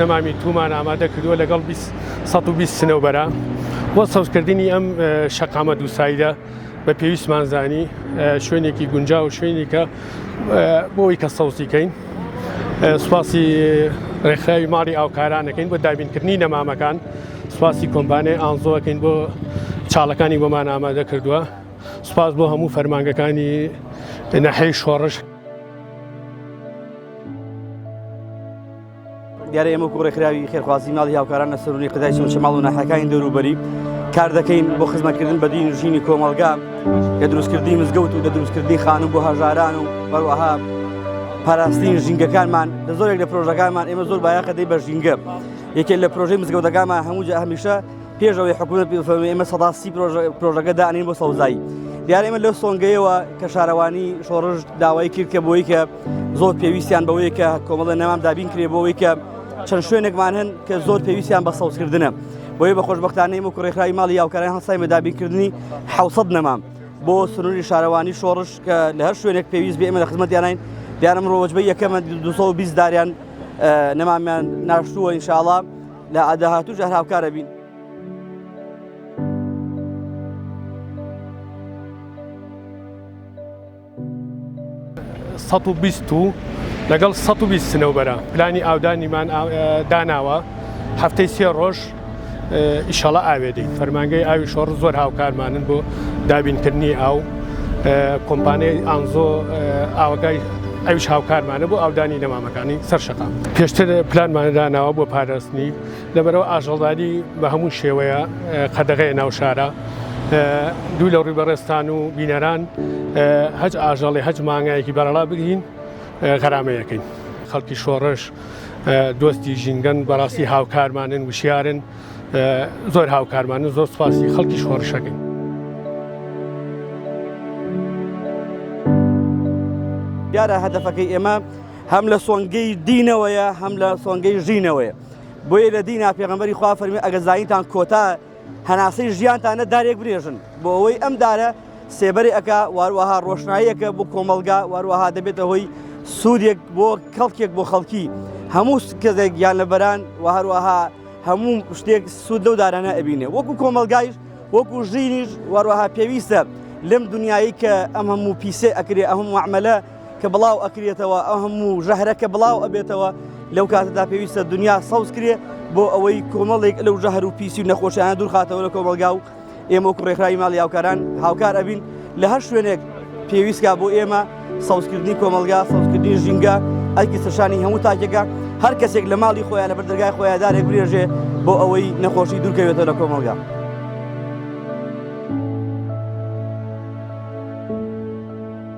نەمامی تومان ئامادە کردووە لەگەڵ 120 سنەوبەرە بۆ سەوزکردنی ئەم شەقامە دووسایدە بە پێویستمان زانی شوێنێکی گونجا و شوێنێکە بۆی کە سەوزیکەین سوپاسی ڕێکخراوی ماڵی ئاوکارانەکەین بۆ دابینکردنی نەمامەکان سوپاسی کۆمبانێ ئانزۆەکەین بۆ چاڵەکانی بۆمان ئامادە کردووە سوپاس بۆ هەموو فەرمانگەکانی نەحەی شۆڕش دیارە ئێمە گوڕێکراوی خێرخوازی ماڵی هاوکاران لە سەرونی قدای سوچە ماڵ و ناحەکانی دەوروبەری کار دەکەین بۆ خزمەتکردن بە دین ژینی کۆمەلگا کە دروستکردنی مزگەوت و دە دروستکردنی خانم بۆ هەژاران و بەروەها پاراستین ژینگەکانمان لە زۆرێک لە پرۆژەکانمان ئێمە زۆر بایەخەدەی بە ژینگە یەکێ لە پرۆژەی مزگەوتەکانمان هەموو جا هەمیشە پێش ئەوەی حکوومەت پێ فەرمی ئێمە سەدا سی پرۆژە- پرۆژەکە دانین بۆ سەوزایی دیارە ئێمە لەو سۆنگەیەوە کە شارەوانی شۆڕش داوای کرد کە بۆی کە زۆر پێویستیان بەوەیە کە کۆمەڵە نەمام دابین کرێ بۆەوەی کە چەند شوێنێکمان هەن کە زۆر پێویستیان بە سەوزکردنە بۆیە بە خۆشببختانەی وەکو ڕێکخراوی ماڵی یاوکاران هەسای بە دابینکردنی حوسەت نەمام بۆ سنووری شارەوانی شۆڕش کە لە هەر شوێنێک پێویست بێ ئێمە لە خزمەتیانین دیارە ئەمڕۆ وەجبەی یەکەمە 220 داریان نەمامیان ناشتووە ئینشاڵا لە ئاداهاتوو ژە هاوکارە بین. سەد و بیست و لەگەڵ سەد و بیست سنەوبەرە پلانی ئاودانیمان داناوە هەفتەی سێ ڕۆژ ئیشەڵا ئاوێ دەین فەرمانگەی ئاوی شۆڕ زۆر هاوکارمانن بۆ دابینکردنی ئاو کۆمپانیای ئانزۆ ئاوگای ئەوش هاوکارمانە بۆ ئاودانی نەمامەکانی سەر شقا پێشتر پلانمانەداناوە بۆ پاراستنی لەبەرەوە ئاژەڵداری بە هەموو شێوەیە قەدەغەیە ناوشارە دوو لە ڕووبەڕێستان و بینەران هەج ئاژەڵی هەج مانگایەکی بەرەڵا بگرین غەرامەیەکەین خەڵکی شۆڕش دۆستی ژینگەن بەڕاستی هاوکارمانن وشیارن زۆر هاوکارمانن زۆر سپاسی خەڵکی شۆڕشەکەین دیارە هەدەفەکەی ئێمە هەم لە سۆنگەی دینەوەیە هەم لە سۆنگەی ژینەوەیە بۆیە لە دینا پێغمبەری خوا فەرمی ئەگە زانیتان کۆتا هەناسەی ژیانتانە دارێک برێژن بۆ ئەوەی ئەم دارە سێبەری ئەکا واروەها ڕۆشناییەکە بۆ کۆمەڵگا واروەها دەبێتە هۆی سوودێک بۆ کەڵکێک بۆ خەڵکی هەموو کەزێک گیان لەبەران و هەروەها هەموو شتێک سوود لەو دارانە ئەبینێ وەکو کۆمەلگایش وەکو ژینیش وەروەها پێویستە لەم دنیایی کە ئەم هەموو پیسێ ئەکرێ ئەهم وعملە کە بڵاو ئەکرێتەوە ئەو هەموو ژەهرە کە بڵاو ئەبێتەوە لەو کاتەدا پێویستە دنیا سەوز کرێ بۆ ئەوەی کۆمەڵێک لەو ژەهر و پیسی و نەخۆشیانە دوورخاتەوە لە کۆمەلگا و ئێمە و کوڕێکخراوی ماڵی هاوکاران هاوکار ئەبین لە هەر شوێنێک پێویستکە بۆ ئێمە سەوزکردنی کۆمەلگا سەوزکردنی ژینگە ئەگی سەشانی هەموو تاکێکە هەر کەسێک لە ماڵی خۆیان لە بەردەگای خۆیان دارێک برێژێ بۆ ئەوەی نەخۆشی دوورکەوێتەوە لە کۆمەلگا.